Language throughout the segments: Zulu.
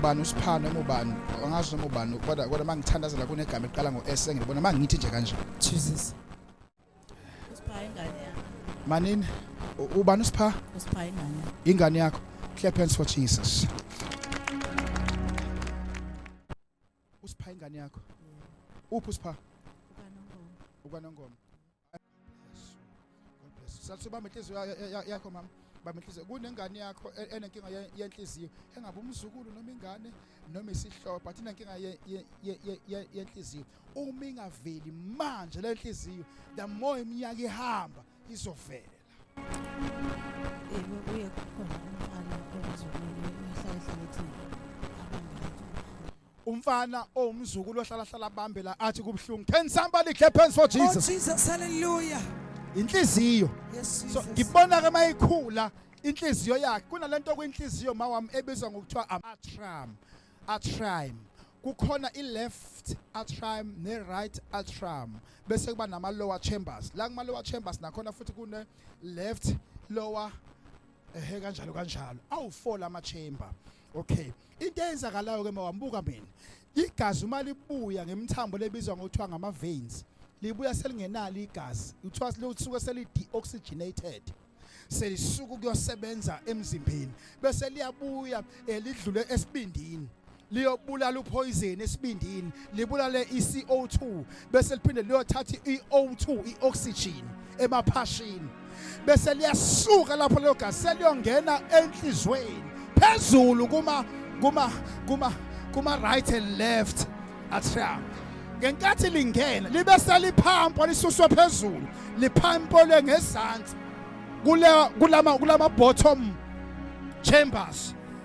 bani usiphano noma ubani angazi noma ubani kodwa kodwa mangithandazela kunegama eliqala ngo S engilibona mangithi nje kanje Jesus usipha ingane yakho manini u- ubani usipha usipha ingane yakho ingane yakho clap hands for Jesus usipha ingane yakho uphi usipha ukanongoma ukanongoma Salisa ubamba inhliziyo yakho mama. Bamba inhliziyo. Kunengane yakho e, enenkinga yenhliziyo. Engabe umzukulu noma ingane noma isihlobo but inenkinga yenhliziyo. Uma ingaveli manje le nhliziyo the more iminyaka ihamba izovela. Yebo kuye kukhona umfana ozokwenza ihlahla lethi umfana owumzukulu ohlalahlala abambe la athi kubuhlungu can somebody clap hands for oh, jesus oh jesus hallelujah inhliziyo yes, so ngibona ke mayikhula inhliziyo yakhe kunalento kwinhliziyo mawami ebizwa ngokuthiwa amatram atram kukhona i-left atrium ne-right atrium bese kuba nama-lower chambers la kuma-lower chambers nakhona futhi kune-left lower ehe kanjalo kanjalo awu-four lama-chamber okay into eyenzakalayo ke mawambuka mina igazi uma libuya ngemthambo lebizwa ngokuthiwa ngama veins libuya selingenalo igazi kuthiwa lisuke seli deoxygenated selisuka ukuyosebenza emzimbeni bese liyabuya eh, lidlule esibindini liyobulala uphoyizeni esibindini libulale i-CO2 bese liphinde liyothatha i-O2 i-oxygen emaphashini bese liyasuka lapho leyo gazi seliyongena enhlizweni phezulu kuma kuma kuma kuma right and left atrium ngenkathi lingena libe seliphampo lisuswe phezulu liphampo lengezansi kule kulama kulama bottom chambers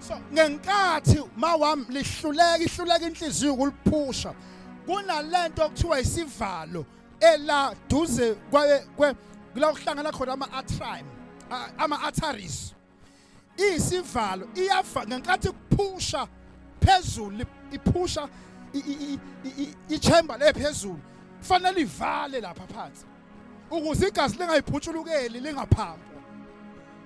so ngenkathi mawami lihluleka ihluleka inhliziyo ukuliphusha kunalento okuthiwa isivalo ela duze kwaye kwe kula kuhlangana khona ama atrium ama arteries isivalo iyafa ngenkathi kuphusha phezulu iphusha i chamber le phezulu fanele ivale lapha phansi ukuze igazi lingayiphutshulukeli lingaphambi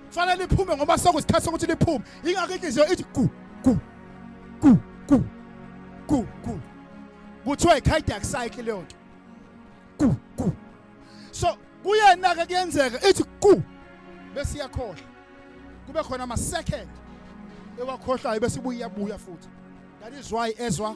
fanele liphume ngoba sokusikhathi sokuthi liphume ingakho inhliziyo ithi ku ku ku ku ku ku kuthiwa i-cardiac cycle leyo nto ku ku so kuyena-ke kuyenzeka ithi ku bese iyakhohlwa kube khona ama-second ewakhohlwayo bese ibuye iyabuya futhi that is why ezwa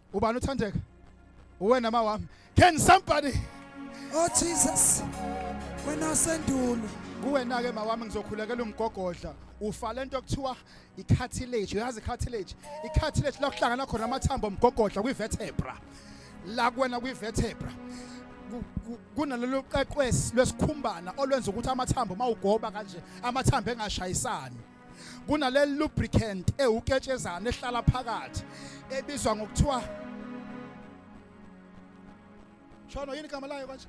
ubani uthandeka uwena ma wami can somebody oh jesus wena sendulo kuwena ke mawami ngizokhulekela umgogodla ufa lento okuthiwa i-cartilage uyazi i-cartilage i-cartilage la kuhlangana khona amathambo omgogodla kwi-vertebra la kuwena kwi-vertebra kunalolu qeqwesi lwesikhumbana olwenza ukuthi amathambo mawugoba kanje amathambo engashayisani kunale lubricant ewuketshezana ehlala phakathi ebizwa ngokuthiwa Shono yini igama layo kanje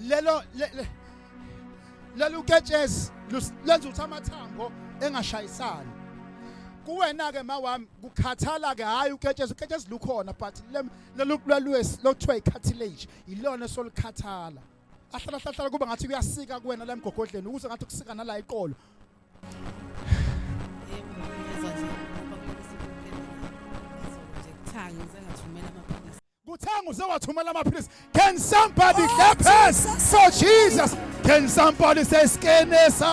lelo lelo uketshezi lenza ukuthi amathambo engashayisani kuwena ke mawami kukhathala ke hayi uketshezi uketshezi lukhona but lelo lwalwesi lokuthiwa icartilage ilona solikhathala ahlala hlahlala kuba ngathi kuyasika kuwena la emgogodleni ukuze ngathi kusika nala iqolo kuthanga usewathumela amaphilisi can somebody oh, clap hands for jesus can somebody say skenesa